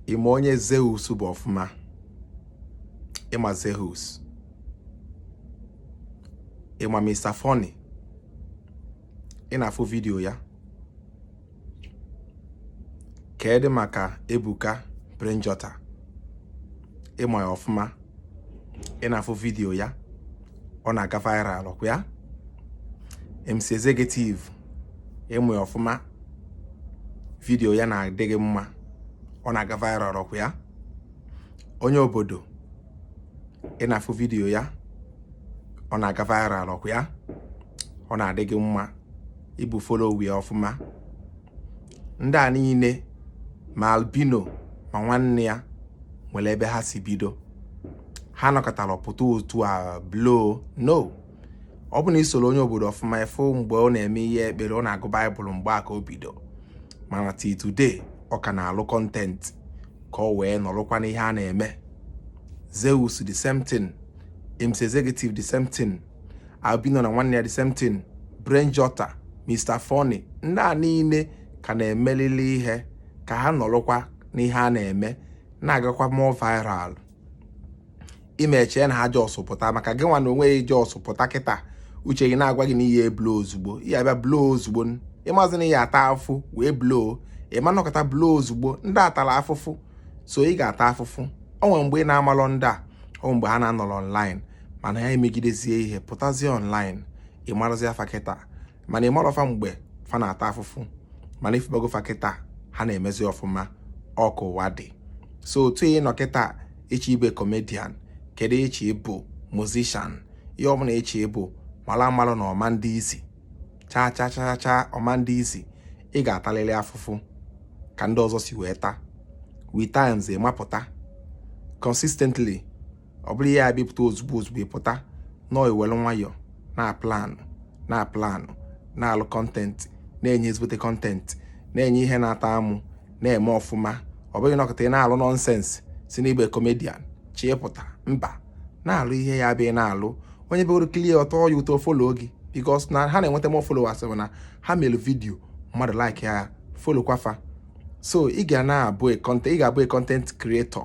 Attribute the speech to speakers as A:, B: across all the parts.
A: ị ma onye Zeus bụ ọfụma ị ma Zeus ị ma Mr. Funny ị na-afụ vidiyo ya kedu maka Ebuka Brain Jotter ị ma ya ọfụma ị na-afụ vidiyo ya ọ na-aga viral ọkwa ya MC Executive ị ma ya ọfụma vidiyo ya na-adị gị mma ọ na-aga viral ọkwa ya onye obodo ị na-afụ vidiyo ya ọ na-aga viral ọkwa ya ọ na-adị gị mma ị bụ follower ya ọfụma ndị a niile ma albino ma nwanne ya nwere ebe ha si bido ha nọkatara pụta otu a blow no ọ bụ na i soro onye obodo ọfụma ị fụ mgbe ọ na-eme ihe ekpere ọ na-agụ baịbụl mgbe a ka o bido mana till today ọ ka na-alụ content ka ọ wee nọrụkwa n'ihe a na-eme Zeus the same thing MC Executive the same thing albino na nwanne ya the same thing Brain Jotter Mr. Funny ndị a niile ka na-emelili ihe ka ha nọrọkwa n'ihe a na-eme na-agakwa more viral ị ma eche na ha just pụta maka gị nwa na onwe gị just pụta kịta uche gị na-agwa gị na ị ya-blow ozugbo ị ya-abịa blow ozugbo ị mazị na ị ya-ata afụfụ wee blow ị ma nọkata blow ozugbo ndị atara afụfụ so ị ga-ata afụfụ o nwere mgbe ị na-amalọ ndị a o nwere mgbe ha na-anọrọ online mana ha emegidezie ihe pụtazie online ị marazia fa kịta mana ị marọ fa mgbe fa na-ata afụfụ mana ị fụbago fa kịta ha na-emezi ọfụma ọ ka ụwa dị so otu ị nọ kịta ị chọ ịbụ comedian kedu ị chọ ịbụ musician ihe ọbụla ị chọ ịbụ mara amalụ na ọ ma-adị easy chaa chaa chaa chaa ọ ma-adị easy ị ga-atalịrị afụfụ ka ndị ọzọ si wee taa with times ị ma-apụta consistently ọ bụrọ ị ya-abịa pụta ozugbo ozugbo ị pụta no i were nwayọọ na-aplanụ na-aplanụ na-alụ content na-enye ezigbote content na-enye ihe na-atọ amụ na-eme ọfụma ọ bụghị nọkata ị na-alụ nonsense sị na ị bụ comedian chọọ ịpụta mba na-alụ ihe ị ya-abịa na-alụ onye bịagoro kilie ọ tọọ ya ụtọ follow gị because na ha na-enweta more followers bụ na ha mere vidio mmadụ like ya followkwa fa so ị ga na-abụ ị ga-abụ content creator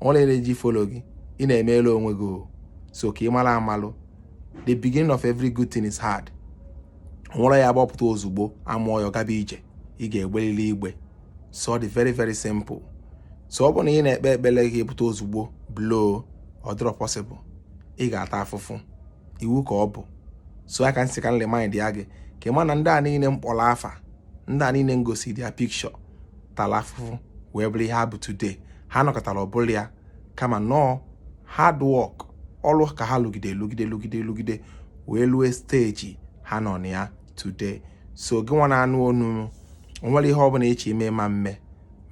A: o nwere ihe a na-eji follow gị ị na-emeela onwe gị o so ka ị mara amalụ the beginning of every good thing is hard nwerọ ya gbapụta ozugbo a mụọ ya gaba ije ị ga-egbelili igbe so ọ dị very very simple so ọ bụ na ị na-ekpe ekpere gị pụta ozugbo blow ọ dịrọ possible ị ga-ata afụfụ iwu ka ọ bụ so ọ ka m sị ka m remind ya gị ka ị ma na ndị a niile m kpọrọ afa ndị a niile m gosi their picture tara afụfụ wee bụrụ ihe ha bụ today ha anọkatarọ bụlụ ya kama na ọ hard work ọrụ ka ha lụgide lụgide lụgide lụgide wee lue stage ha nọ na ya today so gị nwa na-anụ onu m o nwerọ ihe ọbụla ị chọ ime ị ma mme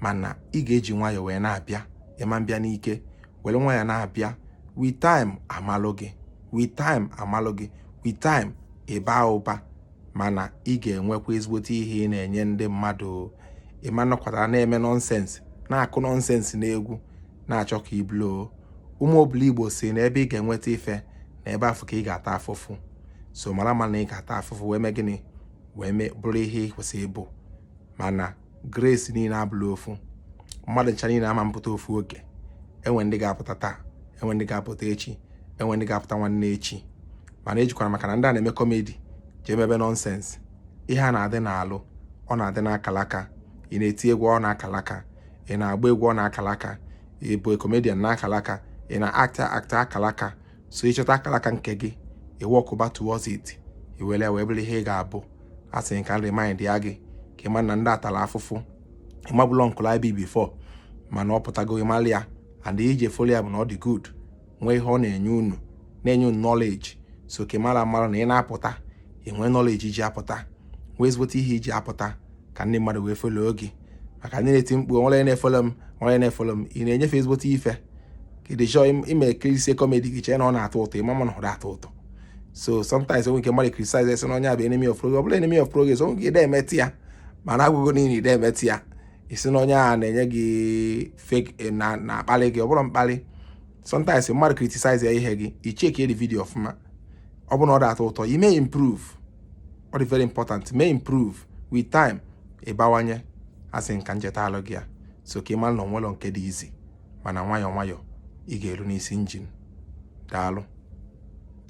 A: mana ị ga-eji nwayọọ wee na-abịa ị ma mbịa n'ike were nwayọọ na-abịa with time a malụ gị with time a malụ gị with time ị ba ụba mana ị ga-enwekwa ezigbote ihe ị na-enye ndị mmadụ ị ma nọkata na-eme nonsense na-akụ nonsense n'egwu na-achọ ka ị blow ụmụ obiligbo sị na ebe ị ga-enweta ife na ebe afụ ka ị ga-ata afụfụ so mara ma na ị ga-ata afụfụ wee mee gịnị wee mee bụrụ ihe ị kwesịrị ịbụ mana grace niile abụlọ ofu mmadụ ncha niile ama mpụta ofu oge enwe ndị ga-apụta taa enwe ndị ga-apụta echi enwe ndị ga-apụta nwanne echi mana ejikwala maka na ndị a na-eme comedy jee mebe nonsense ihe a na-adị n'alụ ọ na-adị n'akalaka ị na-eti egwu ọ n'akalaka ị na-agba egwu ọ n'akalaka ị bụ comedian n'akalaka ị na-act act akalaka so ị chọta akalaka nke gị ị workụba towards it i were ya wee bụrụ ihe ị ga-abụ a sị ka m remindịa gị ka ị ma na ndị a tara afụfụ ị mabụlọ nkụla ibi before mana ọ pụtago ị mara ya and ihe i ji follow ya bụ na ọ dị good nwee ihe ọ na-enye unu na-enye unu knowledge so ka ị mara mara na ị na-apụta i nwee knowledge i ji apụta nwee ezigbote ihe i ji apụta ka ndị mmadụ wee follow gị maka ndị na-eti mkpu o nwerọ na-efollow m o nwerọ na-efollow m ị na-enye fa ezigbote ife kedu chọọ ime ekirisie comedy gị chee na ọ na-atọ ụtọ ị ma ma na ọ na-atọ ụtọ so sometimes o nwe ike mmadụ criticize sị na onye a bụ enemy of progress ọ bụlọ enemy of progress o nwe ike ị dị emeta ya mana a gwa gị na ị dị emeta ya ị sị na onye a na-enye gị fake na-akpali gị ọ bụrọ mkpali sometimes mmadụ criticize ya ihe gị i check the video ọfụma ọ bụrụ na ọ dị atọ ụtọ i mee improve ọ dị very important mee improve with time ị bawanye asị m ka m chetalụ gị ya so ka ị mara na o nwelọ nke dị easy mana nwayọọ nwayọọ ị ga-eru n'isi njem daalụ